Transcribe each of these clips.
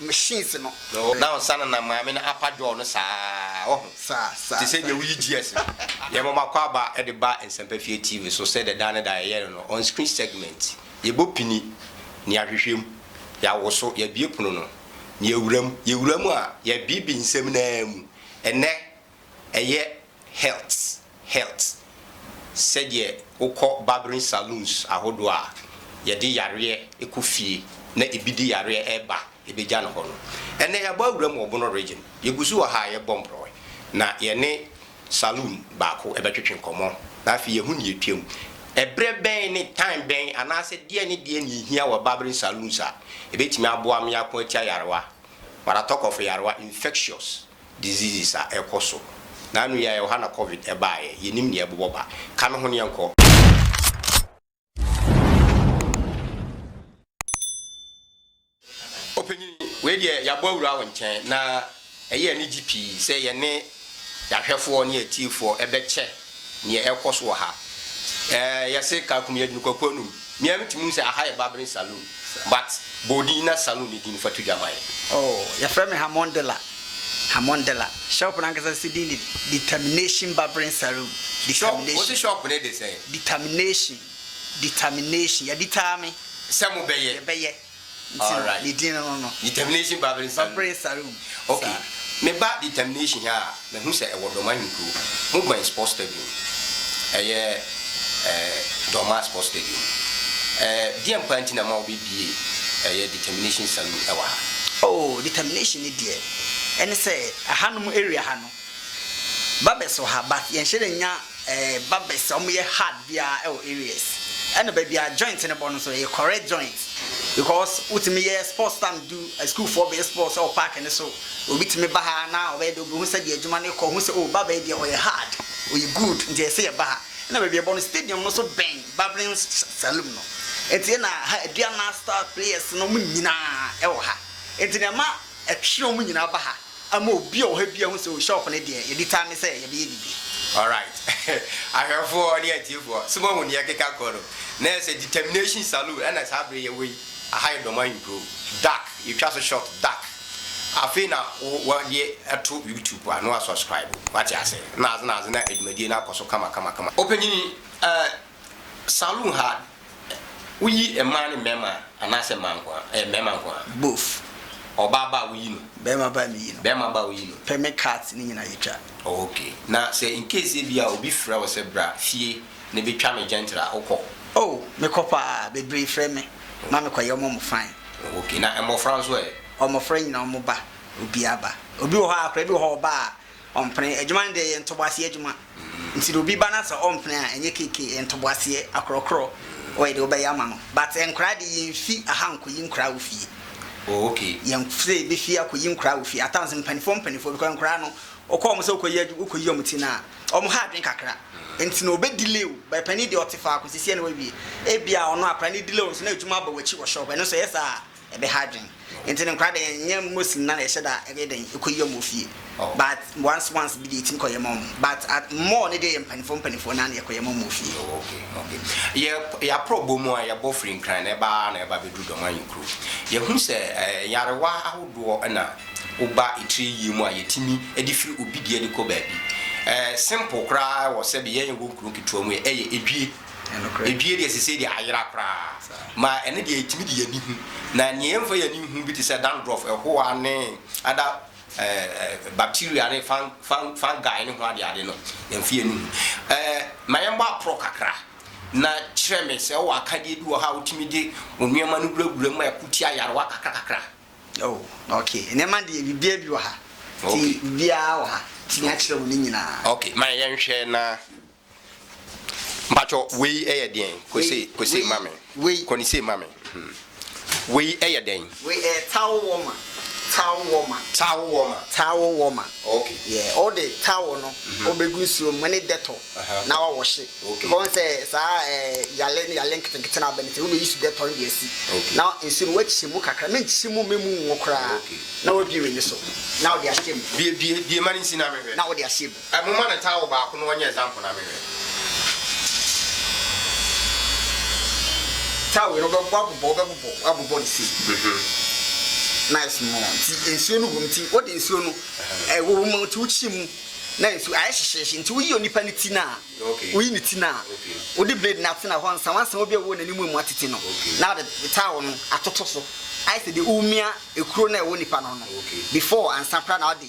machines no. No, na ɔnsa no na maame no apa jaw no saa, woahu. Saa, saa. Te sɛ deɛ woyi GS no. Yɛma makɔ aba de ba Nsɛmpɛfie TV so sɛdeɛ daa ne daa yɛyɛ no no, on-screen segment. Yɛbɔ pini, na yɛahwehwɛ mu. Yɛawoso, yɛabue pono no, na yɛawura mu. Yɛwura mu a, yɛabibi nsɛm no ara mu. Ɛnnɛ. Ɛyɛ health health sɛdeɛ wokɔ barbering saloons ahodoɔ a yɛde yareɛ kɔ fie na ebi de yareɛ reba bɛgya no hɔ no. Ɛnnɛ yɛabɔ awura mu wɔ Bono Region. Yɛgu so wɔ ha a yɛbɔ mprɔe na yɛne saloon baako bɛtwetwe nkɔmmɔ na afei yɛahu nea ɛtwam. Ɛberɛ bɛn ne time bɛn anaasɛ deɛn ne deɛn na ɛhia wɔ barbering saloons a ɛbɛtumi aboa me ako atia yarewa, Waratok of yarewa, infectious diseases a ɛkɔ so. Naanu yi a yɛwɔ ha na covid baeɛ. Yɛnim nea ɛbobɔ ba. Ka no ho ne yɛnkɔ. Ɔpanyin, wei deɛ yɛabɔ awura wo nkyɛn na ɛyɛ anigye pii sɛ yɛne yɛahwɛfoɔ ne atiefoɔ bɛkyɛ Neɛ ɛrekɔ so wɔ ha. Ɛɛ yɛse Kalkum yɛdi no kwaku anum. Me ara metumi hu sɛ aha yɛ barbering saloon but bɔ odin na saloon no din no fa to dwa ma yɛn. Oh yɛfrɛ me Hamon Dela Hamon Dela shop no ankasa se din de Determination Barbering Saloon Shop wo se shop no de sɛn? Determination Determination yɛaditaa me. Sɛ mo bɛyɛ. Yɛbɛyɛ. Nti no, ne din no no. Determination Babere Sare mu. Babere Sare mu. Okay. Meba Determination ha a, mahu sɛ ɛwɔ Dɔm Ahenkuro. Mobɛn Sports Stadium. Ɛyɛ ɛɛ Dɔma Sports Stadium. Ɛɛ deɛn paa nti na ɛma wɔbɛbue ɛyɛ Determination Saloon ɛwɔ ha? Oh, Determination no deɛ, ɛne sɛ ɛhanom area ha no, Barbers wɔ ha but yɛnhyɛ da nnya eh barbers a wɔyɛ hard biara ɛwɔ areas. Ɛna baabi a joint no bɔ no nso ɛyɛ correct joint because wotumi yɛ sports tam du asukuufoɔ bɛyɛ sports ɛwɔ park no so obi tumi ba ha na ɔbɛyɛ dɛ obehu sɛdeɛ adwuma no rekɔ ohu sɛ oh barber yi deɛ ɔyɛ hard ɔyɛ good nti ɛsɛ sɛ yɛba ha. Ɛna baabi a ɛbɔ no stadium no nso bɛn barbering saloom no nti ɛna ha Aduana star players no wɔn nyinaa ɛwɔ ha nti na ɛma ɛtwe wɔn nyinaa ba ha. Ama obi a ɔwɔ ha biara ahu sɛ, oh, shop no deɛ, yɛdi time ne sɛ yɛbɛyɛ biribi. Alright, ahwɛfoɔ ne atiefoɔ, so moahu deɛ ɛkeka kɔ no? Na ɛyɛ sɛ determination saloon ɛna saa bere yɛwɔ yi, aha yɛ Dormaa nkuro, dark, yɛtwa so shot, dark, afei na wɔde ato YouTube a na wɔasubscribe, wate aseɛ, na adze na adze na adwumadie no akɔ so kama kama kama. Ɔpanyin, eh, Saloon ha, woyi mmaa ne mmarima anaasɛ mmaa nko ara? Ɛyɛ mmarima nko ara. Both. Ɔbaa ba a woyi no? Barima ba a meyi no. Barima ba a woyi no. Permit cards ne nyinaa yɛtwa. Ok, na sɛ in case ebia obi frɛ wo sɛ bra fie ne bi twa me gentle a, wokɔ? Oh, mekɔ paa, bebree frɛ me ma mekɔ yɛ wɔn fine. Ok, na mmɔfra nso ɛ? Wɔn mmɔfra nyinaa wɔn ba, obiara ba. Obi wɔ hɔ a, akwadaa bi wɔ hɔ a ɔba a, Ɔmpene. Adwuma no deɛ yɛ ntoboaseɛ adwuma nti deɛ obi ba na sɛ ɔmpene a ɛnyɛ KK ɛyɛ ntoboaseɛ akorɔkorɔ ɔyɛ deɛ ɔbɛyɛ ama no but nkwadaa deɛ yɛnfi aha nkɔyi nkwadaa wɔ fie. Oh okay. Yɛn sɛ yɛbɛfi akɔyi nkwadaa wɔ fie at times mpanimfoɔ mpanimfoɔ because nkwadaa no wokɔ wɔn sɛ wokɔyi adwu wokɔyi wɔn ti no a wɔn ha adwene kakra nti na ɔbɛ delay wo but panin deɛ ɔte faako sisi ɛna wawie ebia ɔno akwadaa no delay wo nso na adwuma aba w'akyi wɔ shop ɛno nso ɛyɛ saa a ɛbɛha adwen nti no nkora dɛn nyɛ most nyina na yɛhyɛ da ɛyɛ dɛn ɛkɔ yi ɔmo wɔ fie but once once bi deɛ yɛtumi kɔ yɛ ma ɔmo but at more no deɛ yɛ mpaninfoɔ mpaninfoɔ naa na yɛkɔ yɛ ma ɔmo wɔ fie. Oh okay okay yɛ yɛ aprɔ bɔ mu a yɛbɔ firi nkran na ɛba na ɛba bɛduru dɔmanyin kuro yɛhu sɛ ɛɛ nyarewa ahodoɔ na woba etire yie mu a yɛtumi ɛde firi obi deɛ de kɔ baabi ɛɛ simple koraa wɔ sɛbi yɛn yɛwɔ nkuro nketewa mu yɛ ɛyɛ edwie. Edue deɛ sesei deɛ ayera koraa ma ɛno deɛ yɛtumi de yɛn ani hu. Na nea yɛmfa yɛn ani nhu bi te sɛ dandruff, ɛhoa ne other bacteria ne fungi ne ho adeade no, yɛmfa yɛn ani hu. Ɛɛ ma yɛmmɔ aporɔ kakra na kyerɛ me sɛ wowɔ akadeɛ bi wɔ hɔ a wotumi de wo nneɛma no wurawura mu ma ɛko tia ayarewa kakrakakra. Oh, ok. Nneɛma deɛ biribiara bi wɔ ha. Nti biribiara wɔ ha. Metumi akyerɛ wo ne nyinaa. Ok, ma yɛnhwɛ na Mpatsɔ wei yɛ deɛn? Kɔ sei, kɔ sei ma me. Wei. Kɔ ne sei ma me. Wei yɛ dɛn? Wei yɛ towel warmer, towel warmer. Towel warmer. Towel warmer. Okay. Yeah, wo de towel no wo bɛ gu nsuo mu ne Dettol na wa wɔhye. Okay. Because wɔn sɛ saa ɛɛ yale ne yale nketenkete na abɛ ne ti, wo bɛ use Dettol no de asi. Okay. Na nsuo no wa kyi mu kakra, me nkyi mu, me mu nwo koraa. Okay. Na wa bue w'ani so, na wo de ahyɛ mu. Bue, bue, bue ma ne nsi na me hwɛ. Na wo de ahyɛ mu. Eh momma me towel baako no ɔnyɛ example na menhwɛ. Towel no wobɛ wabobɔ wobɛbobɔ wabobɔ no sei nice no nti nsuo no wɔ mu nti wode nsuo no ɛwɔ mu nti wokyi mu na nsuo ayɛ hyehyeehye nti woyi onipa no ti no a woyi ne ti no a wode blade no atena hɔ nsa wansa obi a wowɔ n'anim mu atete no na wode towel no atoto so ayɛ sɛ deɛ womia ekuro no a ɛwɔ nipa no ho no before ansa koraa na wode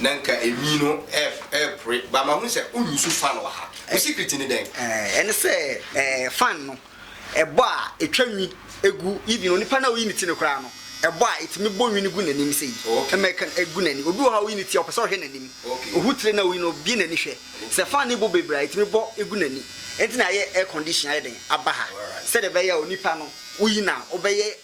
Na nka enwii no repre but mahu sɛ wonyusu fan wɔ ha. Wo secret ne dɛn? Ɛne sɛ fan no ɛbɔ a etwa nwi gu even onipa no a oyi ne ti no koraa no ɛbɔ a etumi bɔ nwi no gu n'anim sei American gu n'ani. Obi wɔ hɔ a oyi ne ti a ɔpɛ sɛ ɔhwɛ n'anim. Ohu tire no a oyi no obue n'ani hwɛ. Sɛ fan no bɔ bebree a etumi bɔ gu n'ani. Ɛno nti na yɛayɛ air condition ayɛ dɛn aba ha sɛdeɛ ɛbɛyɛ a onipa no woyi no a wobɛyɛ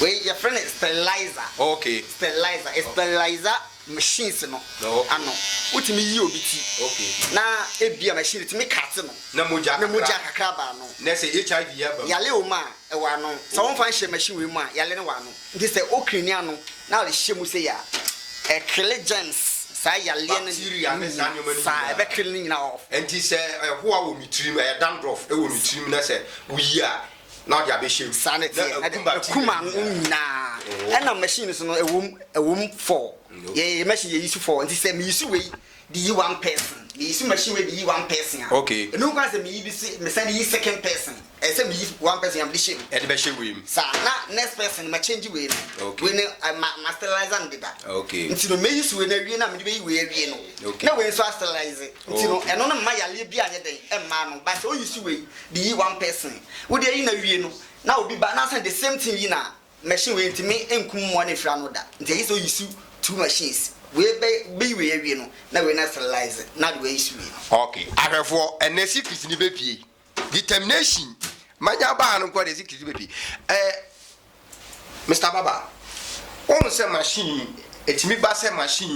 Wei yɛfrɛ no sterilizer. Oh, okay. Sterilizer. Oh. Sterilizer machines no. Oh, okay. Ano. Wotumi yi obi ti. Okay. Na ebi a machine tumi kate no. Na mogya kakra. Na mogya kakra ba ano. Na sɛ HIV yɛ ba mu. Yale wɔ mu a, ɛwɔ ano. Sɛ wɔmfa nhyɛ machine wei mu a, yale no wɔ ano. Nti sɛ wo krini ano na wode hyɛ mu sei a, ɛkele germs, saa yareɛ no, bacteria ne saa nneɛma no saa, nyinaa. ɛbɛkele ne nyinaa off. Nti sɛ ɛhoa wɔ me tirim, ɛyɛ dandruff wɔ me tirim na sɛ woyi a na wode abɛhyɛ mu Saa na na ɛteɛ, na ɛkum ɛde bacteria ɛkum no ano nyinaa. nyinaa. Oh. Ɛna machine no so no, ɛwom, ɛwom four. Mm, okay. Yɛyɛ machine yɛyi so four, nti sɛ meyi so wei de yi one person meyi so machine wei de yi one person a okay ɛnu kwan sɛ meyi bi se mesan de yi second person ɛyɛ sɛ meyi one person a mede hyɛ mu ɛde bɛhyɛ wei mu saa na next person ma change wei no okay wei no ma ma sterilize no deda okay nti no meyi so wei no awie na mede bɛyi wei awie no okay na wei nso a sterilize nti no ɛno no mma yareɛ bi anyɛ dɛn ɛmma no ba sɛ oyi so wei de yi one person wode ayi no awie no na obi ba na asan the same thing yi na Machine wei ntumi nkum mmoa no mfiri ano da nti ɛyɛ sɛ oyi so two machines wei bɛ bɛyi wei awie no na wei no asterilize na de wei so wei no. Ok ahwɛfoɔ ɛnɛ secret no bɛ pie determination manya aba ha no nko a deɛ secret no bɛ pie ɛɛ Mister Baba wohu sɛ machine yi ɛtumi ba sɛ machine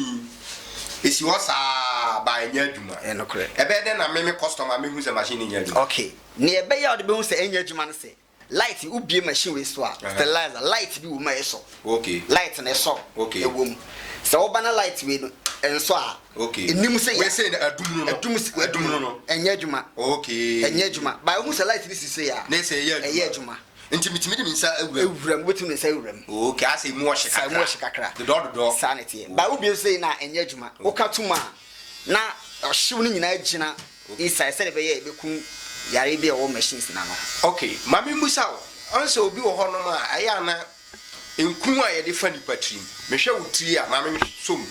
yi ɛsi hɔ saa baa ɛnyɛ adwuma Ɛyɛ nokorɛ. ɛbɛyɛ dɛn na me me customer mɛhu sɛ machine no nyɛ adwuma. Ok neɛ ɛbɛyɛ a wode bɛhu sɛ ɛnyɛ adwuma no sɛ Light wo bue machine wei so a sterilizer light bi wɔ mu a ɛsɔ light no ɛsɔ ɛwɔ mu sɛ wo ba na light wei no ɛnsɔ a ɛnim sɛ yɛ ɛdum no ɛnyɛ adwuma ɛnyɛ adwuma ba ɛhu sɛ light no si sɛ yɛ a ɛyɛ adwuma nti metumi de me nsa awura mu awura mu wobɛtumi de nsa awura mu ok asɛ mu ɔhye kakra mu ɔhye kakra dodɔ dodɔ saa ne teɛ ba wo bue sɛ na ɛnyɛ adwuma woka tom a Na ɔhyew no nyinaa gyina inside sɛdeɛ ɛbɛyɛ a ɛbɛku yareɛ bi a ɛwɔ machines no ano ho. Ok, ma memmisa wo, ɔn sɛ obi wɔ hɔnom a ɛyɛ a na nku a yɛde fa nnipa tirim, mehwɛ wo tiri a, ma mensɔ mu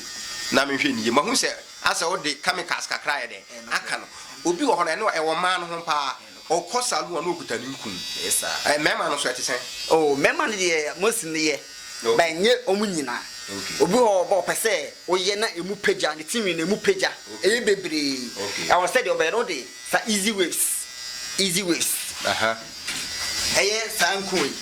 na menhwɛ no yie, mahu sɛ asɛ wode chemicals kakra ayɛ dɛn? aka no. Obi wɔ hɔ no, ɛno ɛwɔ mmaa no ho paa. Ɔkɔ saa no a na ɔkuta ne nkun. Ɛyɛ saa. Ɛɛ mmarima no nso ɛte sɛn? Oh, mmarima no deɛ most no yɛ, but ɛnyɛ wɔn nyinaa. Okay. Obi wɔ hɔ a ɔba a ɔpɛ sɛ ɔyɛ na ɛmu pagya, ne tirinwi no ɛmu pagya, Okay. ɛyɛ bebree. Okay. Ɛwɔ sɛ deɛ ɔbɛyɛ no wode saa easy waves, easy waves, Aha. ɛyɛ saa nkun wei,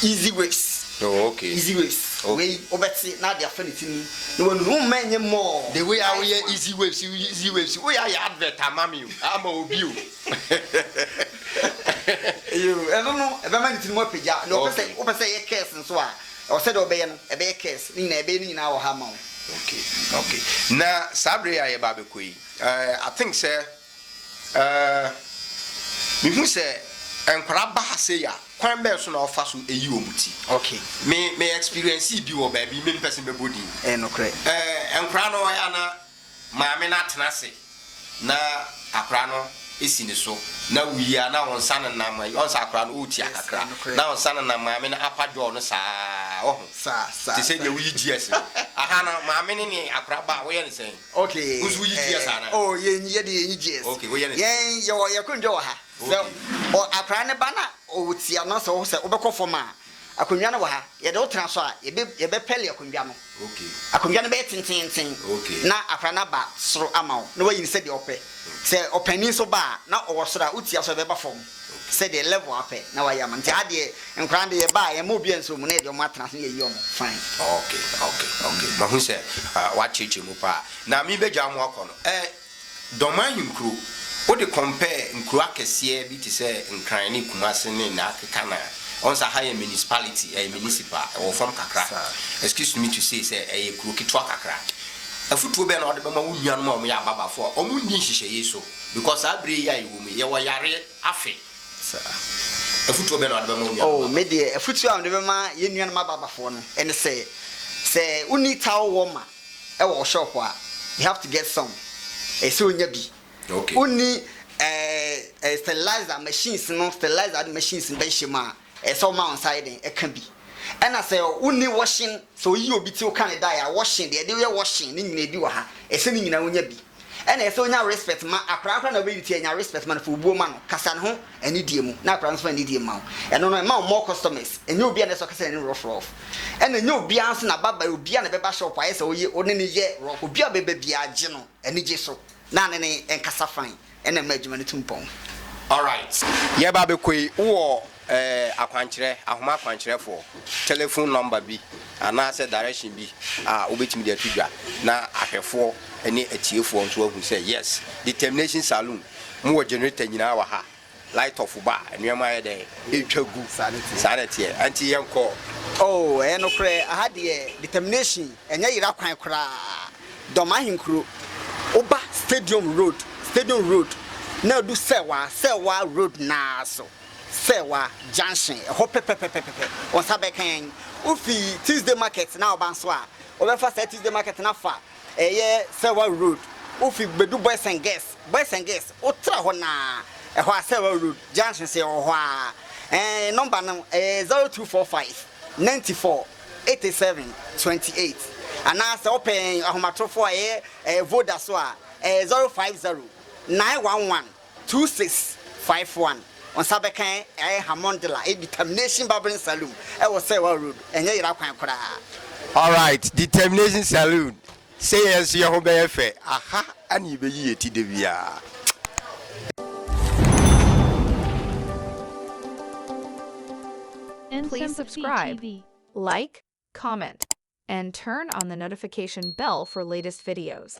easy waves, Oh, okay. easy waves, Okay. wei wobɛte na ade afa ne ti no mu. Na wɔn ho mma nyɛ more. The way a woyɛ easy waves easy waves woyɛ ayɛ advert ama me o ama obi o. Eyo ɛno no ɛbɛma ne tiri mu apagya na ɔpɛ sɛ wopɛ sɛ ɛyɛ curse nso a ɛwɔ sɛ deɛ ɔbɛyɛ no ɛbɛyɛ curse ne nyinaa ɛbɛyɛ ne nyinaa wɔ ha ama wo. Okay okay na saa bere yi a yɛba abɛkɔ yi eh I think sɛ. Ɛɛ, mehu sɛ nkwadaa ba ha sei a, kwan bɛn so na wɔfa so yi wɔn ti? Ok. Me, me experience bi wɔ baabi, me mpɛ sɛ mɛbɔ din. Ɛyɛ nokorɛ. Ɛɛ, nkwadaa no wɔyɛ a na maame no atena ase na akwadaa no si ne so, na woyi a na wɔn nsa nenam, wɔn nsa akwadaa no ɔretia kakra, na wɔn nsa nenam maame no apa jaw no saa, wahu? Saa, saa. Te sɛ deɛ woyi GS no. Aha no, maame no ne akwadaa ba a, woyɛ no sɛn? Okay Wo nso woyi GS anaa? eh, oh yɛn yɛ deɛ yɛnyi GS Okay, woyɛ ne sɛ? Yɛn yɛwɔ yɛ akonnwa wɔ ha Sɛ Okay. ɔ akwadaa no ba na ɔtia no sɛ wo sɛ wobɛkɔ fam a Akonnwa no wɔ ha yɛde wo tena so a yɛbɛ yɛbɛpɛle akonnwa no Okay. Akonnwa no bɛyɛ tenteenten Okay. na akwadaa no aba soro ama wo na wayi no sɛdeɛ ɔpɛ Sɛ ɔpanin nso ba a na ɔwɔ soro a wotia so a ɛbɛba fam sɛ deɛ level apɛ na wayɛ ama no nti adeɛ nkwadaa no deɛ yɛba a yɛmma obiara nso mu na yɛde wɔn atena ase na yɛyi wɔn fine. Ok ok ok mahu sɛ woakyerɛkyerɛ mu paa na mebɛgya mo akɔ no ɛ Dɔmaa nyi nkuro wode compare nkuro akɛseɛ bi te sɛ Nkran ne Kumasi ne na akeka no a ɔhu sɛ aha yɛ municipality ɛyɛ municipal ɛwɔ fam kakra excuse me to say sɛ ɛyɛ kuro ketewa kakra afutuo bɛn na wode bɛma wo nuanom a wɔyɛ ababafoɔ a wɔnni nhyehyɛeɛ so? Because saa bere yi a yɛwɔ mu yi, yɛwɔ yare afe. Saa. Afotuo bɛn na wɔde bɛma wo nuanom ababafo? Oh, me deɛ, afotuo a mede bɛma yɛn nuanom ababafoɔ no ne sɛ, sɛ wonni towel warmer wɔ wo shop a, you have to get some. Ɛsɛ sɛ wonya bi. Okay. Wonni eh, eh, sterilizer machines no, sterilizer machines no bɛnhyɛ mu a, Ɛsɛ sɛ woma wo nsa yɛ dɛn ka bi. Ɛna sɛ wonni wɔhyen, sɛ woyi obi ti woka ne dae a, wɔhyen, deɛ yɛde yɛ wɔhyen ne nyinaa bi wɔ ha. Ɛsɛ sɛ ne nyinaa wonya bi. Ɛna ɛsɛ sɛ wonya respect ma akwadaa koraa na wobɛyi ne ti a, nya respect ma no, fa obuo ma no, kasa ne ho anidie mu na akwadaa no nso fa anidie mma wo. Ɛno no, ɛma wo more customers. Ɛnyɛ obiara na ɛsɛ sɛ ɔkasa n'anim rough rough. Ɛna ɛnyɛ obiara nso na aba ba, obiara na bɛba shop a ayɛ sɛ wo ne no yɛ rough. Obiara a ɔbɛba biara, gye no anigye so na ne ne nkasa fann. Ɛna ɛma adwuma no tu mpɔn. Alright, yɛreba abɛkɔ yi, wowɔ eh, akwankyerɛ, ahoma akwankyerɛfoɔ, telephone number bi anaasɛ direction bi a wobɛtumi de ato dwa na ahwɛfoɔ ne atiefoɔ nso ahu sɛ yes, Determination Saloon, mowɔ generator nyinaa wɔ ha, light off ba a, nneɛma ayɛ dɛn? Ɛretwa gu. Saa na ɛteɛ. Saa na ɛteɛ. Ɛnti yɛnkɔ. Oh, ɛyɛ nokorɛ, aha deɛ Determination, ɛnyɛ yera kwan koraa. Dɔm ahenkuro, woba Stadium Road, Stadium Road, na adu Sɛwa, Sɛwa Road no ara so, Sɛwa Junction, ɛhɔ pɛpɛpɛpɛpɛ, wo nsa bɛka yɛn. Wofi Tuesday Market na woba nso a, wobɛfa saa Tuesday Market no afa ɛyɛ Sɛwa Road, wofi bɛdu Boys and Girls, Boys and Girls, wotra hɔ no ara, ɛhɔ a Sɛwa Road, Junction nso yɛwɔ hɔ ara. Ɛɛ, nɔmba no, ɛyɛ 0245. Ninety four, eighty seven, twenty eight, anaa sɛ wopɛ yɛn ahomatorofo a ɛyɛ ɛyɛ Voda so a, ɛyɛ zero five zero, nine one one, two six five one. Wo nsa bɛka yɛn ɛyɛ Hamondla ɛyɛ Determination Barbering Saloon ɛwɔ Sɛɛwaa Road, ɛnyɛ yera kwan koraa. Alright, Determination Saloon Sɛ yɛn nso yɛn ho bɛyɛ fɛ. Aha na yebeyi yɛn ti da biara. Please subscribe, like, comment, and turn on the notification bell for latest videos.